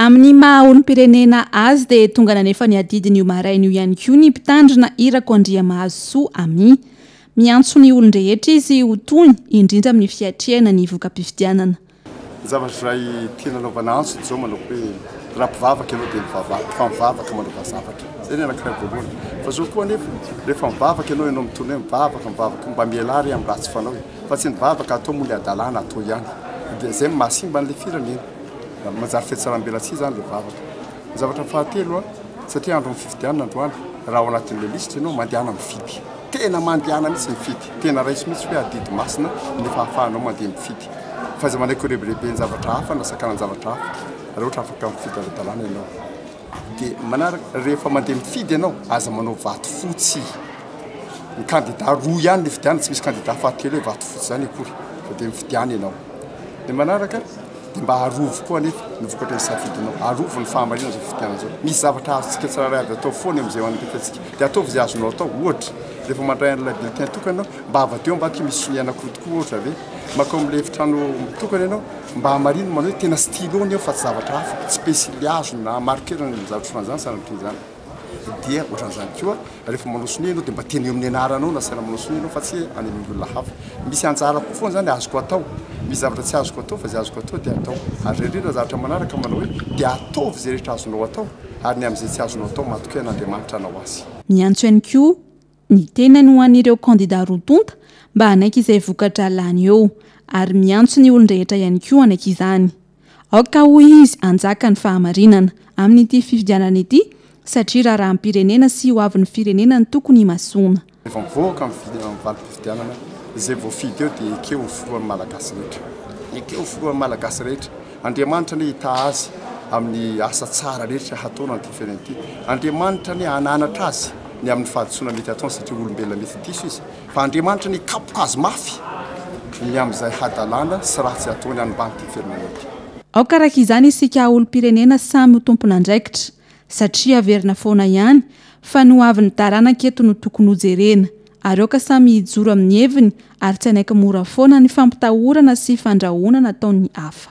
Amin'ny maha olom-pirenena azy dia tonga nanefa ny adidiny io maraina io ihany koa ny mpitandrina Irako Andriamahazosoa Amy. Miantso ny olon-drehetra izy ho tony, indrindra amin'ny fiatrehana ny voka-pifidianana. Ny zavatra iray tiana anaovana antso dia izao manao hoe raha mpivavaka ianao dia mivavaha, fa mivavaka manaova zavatra. Izay ny anankiray voalohany. Fa izao koa anefa, rehefa mivavaka ianao, ianao mitony hoe mivavaka, mivavaka, mba mialà re amin'ny ratsy fanao e! Fa tsy ny vavaka atao moa ilay hadalana atao ihany. Dia izay no mahasimba an'ilay firenena. ary manjary fihatsarambelatsihy izany ilay vavaka. Ny zavatra fahatelo, satria andron'ny fifidianana androany, raha ao anatin'ilay lisitra ianao, mandehana mifidy. Tena mandehana mihitsy mifidy. Tena raiso mihitsy hoe adidy masina ny fahafahanao mandeha mifidy. F'aiza manaiky ho rebireben'zavatra hafa na sakanan-javatra hafa raha ohatra afaka mifidy ara-dalàna ianao. Dia manaraka, rehefa mandeha mifidy ianao, aza manao vato fotsy. Ny kandida roa ihany no ifidianana, tsy misy kandida fahatelo hoe vato fotsy izany akory. Dia mifidiana ianao. Dia manaraka, Dia mba arovy koa anefa ny vokatry ny safidinao. Arovy ny fahamarinana izao fifidianana izao. Misy zavatra azontsika tsirairay avy atao foana amin'izay eo an'ny rehetratsika. Dia ataovy izay azonao atao. Ohatra, rehefa mandray an'ilay bulletin tokana ianao, mba avadiho ambadika hoe misy sonihana koa tokoa, ohatra, ve? Mankao amin'ilay efitrano mitokana ianao, mba hamarino manao hoe tena stylo-ny eo fa tsy zavatra hafa, tsy pensily hazo na marker ny zavatra ohatran'izany, sanatria izany. dia ohatran'izany koa rehefa manao sonia ianao dia mba teny eo amin'ny anaranao no asaina manao sonia ianao fa tsy hoe any amin'ny olona hafa. Misy anjarako foana izany azoko atao. Misy zavatra tsy azoko atao fa izay azoko atao dia atao. Ary indrindra ny zavatra manaraka manao hoe dia ataovy izay rehetra azonao atao ary ny amin'izay tsy azonao atao matokia an'Andriamanitra hanao azy. Miantso ihany koa ny tenany ho an'ireo kandida roa tonta mba hanaiky izay voka-dra lany eo ary miantso ny olon-drehetra ihany koa hanaiky izany. Aoka hoy izy hanjaka ny fahamarinana amin'ity fifidianana ity satria raharaham-pirenena sy ho avin'ny firenena no tokony himasoana. Rehefa mivoaka amin'ny valim-pifidianana, izay voafidy eo dia ekeo ho filohan'ny Malagasy rehetra. Ekeo ho filohan'ny Malagasy rehetra. Andriamanitra anie hitaha azy amin'ny asa tsara rehetra hataony an'ity fiainana ity. Andriamanitra anie hananatra azy ny amin'ny fahadisoana mety hataony satria olombelona mety diso izy. Fa Andriamanitra anie hikapoka azy mafy ny amin'izay hadalana sy ratsy ataony any ambanin'ity fiainana ity. Aoka araka izany isika olom-pirenena samy ho tompon'andraikitra satria haverina foana ihany fa ny ho avin'ny taranaka eto no tokony hojerena ary aoka samy hijoro amin'ny heviny ary tsy hanaiky mora foana ny fampitahorana sy fandrahonana ataon'ny hafa.